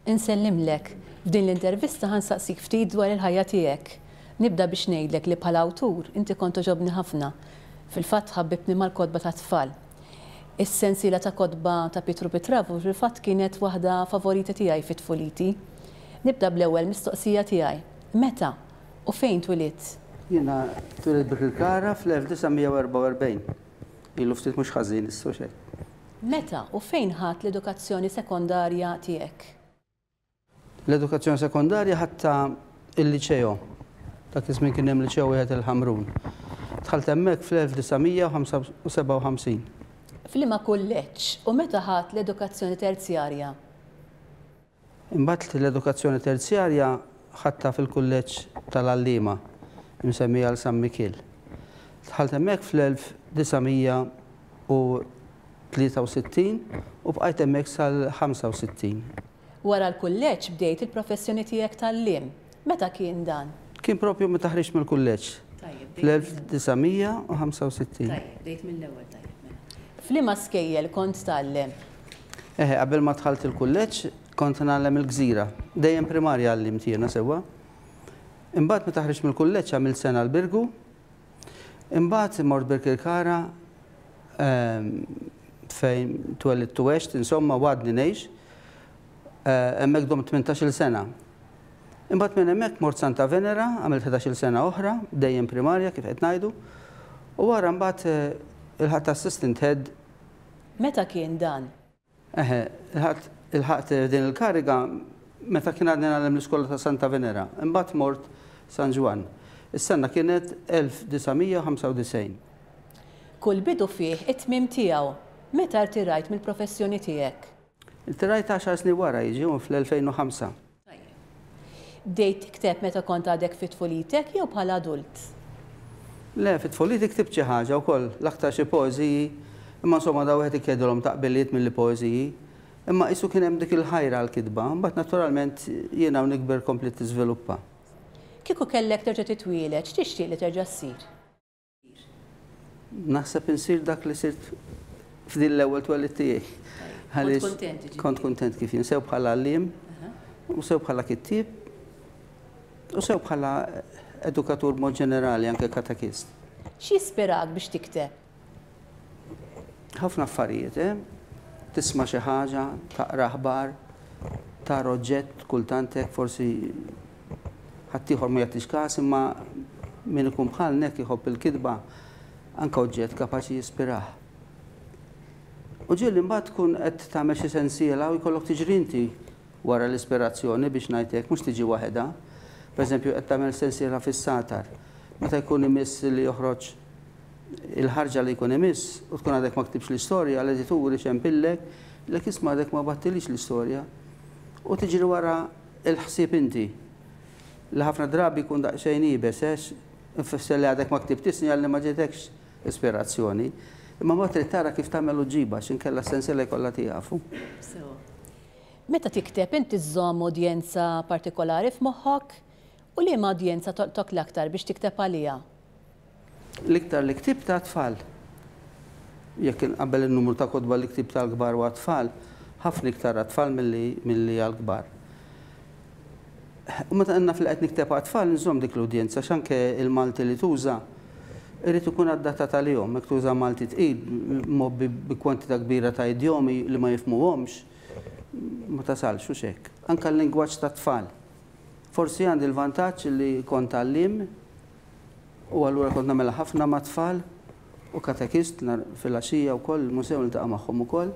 Insellimlek. F'din l-intervista ħa nsaqsik ftit dwar il-ħajja tiegħek. Nibda biex ngħidlek li bħala awtur inti kont togħġobni ħafna. Fil-fatt ħabbibtni mal-kotba tat-tfal. Is-sensiela ta' kotba ta' Pietru Pitravu fil-fatt kienet waħda favorita tiegħi fi tfuliti. Nibda bl-ewwel mistoqsija tiegħi. Meta u fejn twilit? Jiena twilit Birkirkara fl-1944. Ilu ftit mhux ħażin issa u xejn. Meta u fejn ħadt l-edukazzjoni sekondarja tiegħek? L-edukazzjoni sekondarja ħadtha il-Liceo. Dak iż-żmien kien hemm Liceo wieħed il-Ħamrun. Dħalt hemmhekk fl-1957. F'liema kulleġġ u meta ħadt l-edukazzjoni terzjarja? Imbagħad l-edukazzjoni terzjarja ħadtha fil-Kulleġġ tal-Għalliema, imsemmi għal San Mikiel. Dħalt hemmhekk fl-1963 u bqajt hemmhekk sal-65. Wara l-kulleġġ bdejt il-professjoni tiegħek t'għalliem, Meta kien dan? Kien proprju meta ħriġt mill-kulleġġ, fl-1965. Tajjeb, bdejt mill-ewwel, tajjeb mela. F'liema skejjel kont tgħallem? Eħe, qabel ma dħalt il-kulleġġ kont ngħallem il-Gżira. Dejjem primarja għallimt jiena sewwa. Imbagħad meta ħriġt mill-kulleġġ għamilt sena l-Birgu. Imbagħad mort Birkirkara fejn twellidt u għext, insomma u għadni ngħix. hemmhekk domt tmintax-il sena. Imbagħad minn hemmhekk mort Santa Venera, għamilt ħdax-il sena oħra, dejjem primarja kif qed ngħidu, u wara mbagħad ilħaqt assistant head. Meta kien dan? Eħe, ilħaqt ilħaqt din il-kariga meta kien għadni ngħallem l-iskola ta' Santa Venera. Imbagħad mort San Ġwann. Is-sena kienet 1995. Kull bidu fih it-tmiem tiegħu. Meta rtirajt mill-professjoni tiegħek? Ttirajt għaxar snin wara, jiġifieri fl-2005. Bdejt tikteb meta kont għadek fi tfulitek jew bħala adult? Le, fi tfuliti ktibt xi ħaġa wkoll, l-aktar xi poeżiji, imma insomma dawn wieħed iqegħdilhom ta' qbiliet milli poeżiji. Imma qisu kien hemm dik il-ħajra għall-kitba, imbagħad naturalment jiena u nikber kompliet tiżviluppa. Kieku kellek terġa' titwieled, x'tixtieq li terġa' ssir? Naħseb insir dak li sirt f'din l-ewwel twelid tiegħi. Għaliex kont kuntent kif jien sew bħala għalliem u sew bħala kittieb u sew bħala edukatur mod ġenerali anke katekist. X'jispirak biex tikteb? Ħafna affarijiet, eh? Tisma' xi ħaġa, taqra aħbar, tara oġġett, kultant hekk forsi Ħaddieħor ma jagħtix kas imma min ikun bħalni hekk iħobb il-kitba anke oġġett kapaċi jispirah. U ġieli mbagħad tkun qed tagħmel xi sensiela u jkollok tiġri inti wara l-ispirazzjoni biex ngħid hekk, mhux tiġi waħedha. Pereżempju qed tagħmel sensiela fis-satar. Meta jkun imiss li joħroġ il-ħarġa li jkun imiss u tkun għadek ma ktibx l-istorja, l-editur ixempillek, jgħidlek isma' għadek ma battilix l-istorja. U tiġri wara Il-ħsieb inti, li ħafna drabi jkun daqsxejn iebes għex ifisser li għadek ma ktibtix sinjal li ma ġejtekx ispirazzjoni. Imma mbagħad trid tara kif tagħmel u ġġibha x'inkella s-sensiela jkollha tieqaf. Sewwa. Meta tikteb inti żżomm udjenza partikolari f'moħħok? U liema udjenza tolqtok l-aktar biex tikteb għaliha? L-iktar li ktibt għat-tfal. Jekk inqabbel in-numru ta' kotba li ktibt għall-kbar u għat-tfal, ħafna iktar għat-tfal milli għall-kbar. U meta naf li qed nikteb għat-tfal inżomm dik l-udjenza għax anke l-Malti li tuża jrid ikun adattat għalihom. Jekk tuża Malti tqil, mgħobbi bi kwantità kbira ta' idjomi li ma jifhmuhomx, ma tasalx, hux hekk? Anke l-lingwaġġ tat-tfal. Forsi għandi l-vantaġġ li kont għalliem. U allura kont nagħmilha ħafna mat-tfal u katekist nhar filgħaxija wkoll il-musew niltaqa' magħhom ukoll.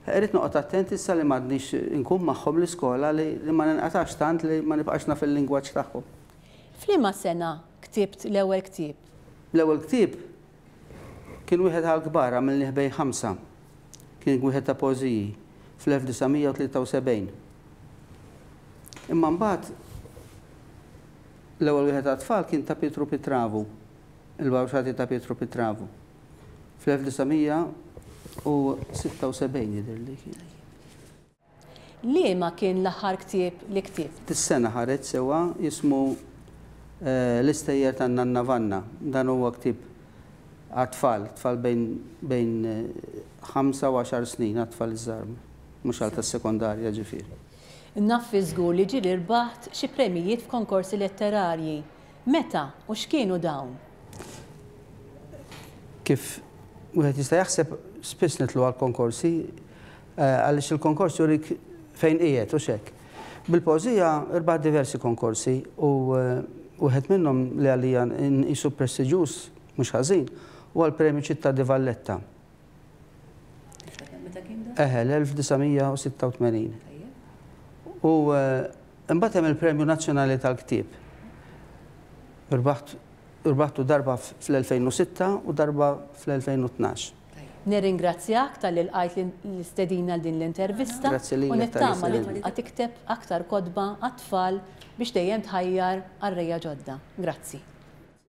Irrid noqgħod attent issa li m'għadnix inkun magħhom l-iskola li ma ninqatax tant li ma nibqax naf il-lingwaġġ tagħhom. F'liema sena ktibt l-ewwel ktieb? L-ewwel ktieb kien wieħed għall-kbar għamilnih bejn ħamsa. Kien wieħed ta' poeżiji fl-1973. Imma mbagħad. L-ewwel wieħed għat-tfal kien ta' Pietru Pitravu, il-Bawxati ta' Pietru Pitravu, fl-1976 jidhirli kien. Liema kien l-aħħar ktieb li ktibt? Dis-sena ħareġ sewwa jismu L-istejjer tan-Nanna Vanna. Dan huwa ktieb għat-tfal, tfal bejn bejn ħamsa u għaxar snin, għat-tfal iż-żgħar, mhux għal tas-sekondarja ġifieri. Naffi żgur li ġieli rbaħt xi premjijiet f'konkorsi letterarji. Meta u x'kienu dawn? Kif wieħed jista' jaħseb, spiss nidħlu għall-konkorsi għaliex il-konkors jurik fejn qiegħed, hux hekk? Bil-poeżija rbaħt diversi konkorsi u wieħed minnhom li għalija nqisu prestiġjuż mhux ħażin huwa l-Premju Città di Valletta. Eħe, l-1986. U imbagħad hemm il-Premju Nazzjonali tal-Ktieb. Rbaħtu darba fl-2006 u darba fl-2012. Nirringrazzjak talli lqajt l-istedina għal din l-intervista u nittama li tibqa' tikteb aktar kotba għat-tfal biex dejjem tħajjar qarrejja ġodda. Grazzi.